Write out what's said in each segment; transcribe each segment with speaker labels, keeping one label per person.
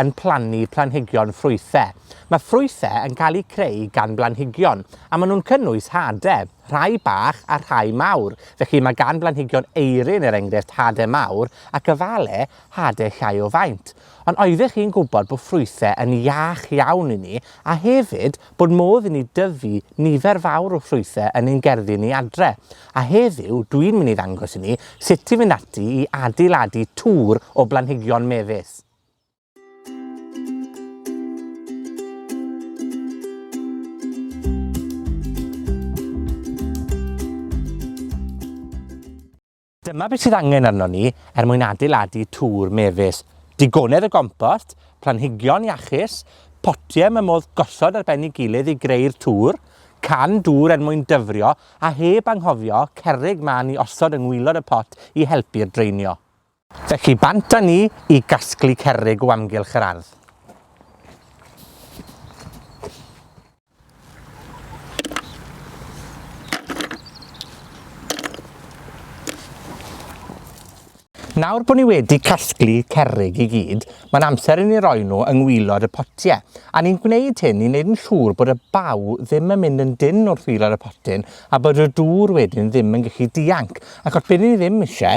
Speaker 1: yn plannu planhigion ffrwythe. Mae ffrwythe yn cael eu creu gan blanhigion, a ma' nw'n cynnwys hade, rhai bach a rhai mawr. Felly, ma' gan blanhigion eirin, er enghrefft, hade mawr, ac efale hade llai o faint. Ond oeddech chi'n gwbod bo' ffrwythe yn iach iawn i ni, a hefyd, bod modd i ni dyfu nifer fawr o ffrwythe yn ein gerddi ni adre? A heddiw, dwi'n myn' i ddangos i ni sut i fynd ati i adeiladu tŵr o blanhigion mefus. Dyma beth sydd angen arno ni er mwyn adeiladu tŵr mefus. Digonedd o gompost, planhigion iachus, potiau mae modd gosod ar ben ei gilydd i greu'r tŵr, can dŵr er mwyn dyfrio, a heb anghofio cerrig man i osod yng ngwylod y pot i helpu'r draenio. Felly, bant â ni i gasglu cerrig o amgylch yr ardd. Nawr bod ni wedi casglu cerrig i gyd, mae'n amser i ni roi nhw yng ngwylod y potie, a ni'n gwneud hyn i wneud yn siŵr bod y baw ddim yn mynd yn dynn wrth wilod y potyn, a bod y dŵr wedyn ddim yn gallu dianc, achos be' ni ddim isie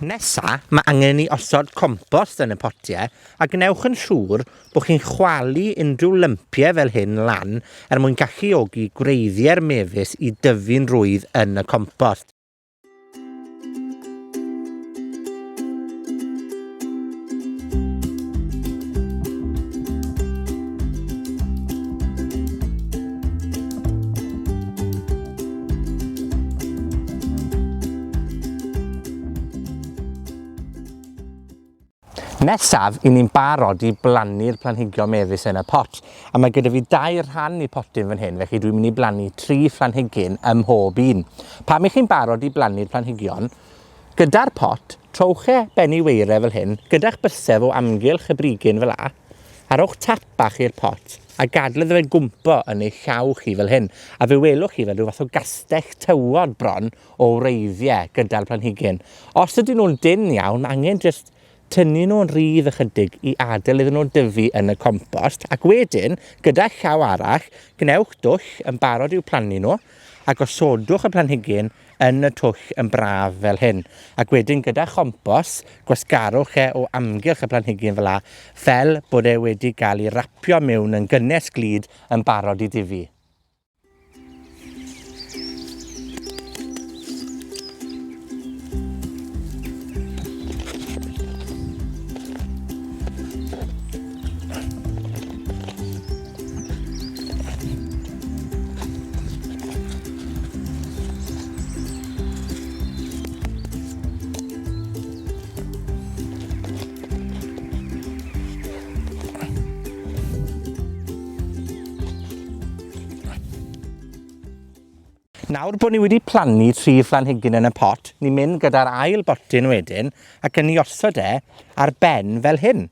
Speaker 1: Nesa, ma' angen i ni osod compost yn y potie, a gwnewch yn siŵr bo' chi'n chwalu unryw lympie fel hyn lan er mwyn galluogi gwreiddie'r mefus i dyfu'n rwydd yn y compost. Nesaf, i ni'n barod i blannu'r planhigion mefus yn y pot. A mae gyda fi dair rhan i potyn fan hyn, felly dwi'n mynd i blannu tri phlanhigyn ym mhob un. Pan i chi'n barod i blannu'r planhigion, gyda'r pot, trowch e ben i weire fel hyn, gyda'ch bysedd o amgylch y brigyn fela, a rhowch tap bach i'r pot, a gadel iddo fe gwmpo yn ei llaw chi fel hyn, a fe welwch chi fel rhyw fath o gastell tywod bron o wreiddie gyda'r planhigyn. Os ydyn nw'n dynn iawn, ma' angen jyst tynnu nw'n rydd ychydig i adel iddyn nw dyfu yn y compost, ac wedyn, gyda llaw arall, gwnewch dwll yn barod i'w plannu nw, a gosodwch y planhigyn yn y twll yn braf fel hyn, ac wedyn gyda chompos, gwasgarwch e o amgylch y planhigyn fela, fel bod e wedi ga'l 'i rapio miwn yn gynnes glud, yn barod i dyfu. Nawr bod ni wedi plannu tri phlanhigyn yn y pot, ni'n mynd gyda'r ail botyn wedyn, ac yn 'i osod e ar ben fel hyn.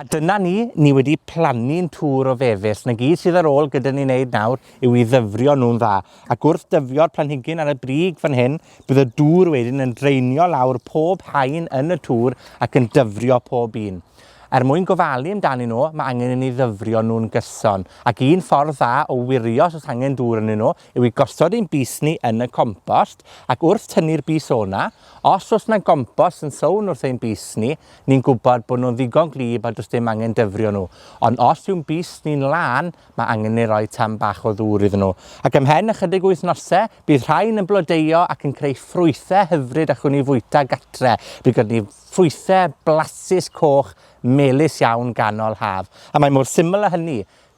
Speaker 1: A dyna ni, ni wedi plannu'n twr o fefus. 'Na gyd sydd ar ôl gyda ni neud nawr yw i ddyfrio nw'n dda, ac wrth dyfio'r planhigyn ar y brig fan hyn, bydd y dŵr wedyn yn draenio lawr pob haen yn y twr ac yn dyfrio pob un. Er mwyn gofalu amdanyn nw, ma' angen i ni ddyfrio nw'n gyson, ac un ffordd dda o wirio os o's angen dŵr ynyn nw yw i gosod ein bys ni yn y compost, ac wrth tynnu'r bys o'na, os o's 'na gompos yn sownd wrth ein bys ni, ni'n gwbod bo' nw'n ddigon gwlyb a do's dim angen dyfrio nw. Ond os yw'n bys ni'n lân, ma' angen ni roi tam bach o ddŵr iddyn nw. Ac ymhen ychydig o wythnose, bydd rhain yn blodeuo ac yn creu ffrwythe hyfryd allwn ni fwyta gatre. By gynno ni ffrwythe blasus coch melys iawn ganol haf. A mae mor syml â hynny.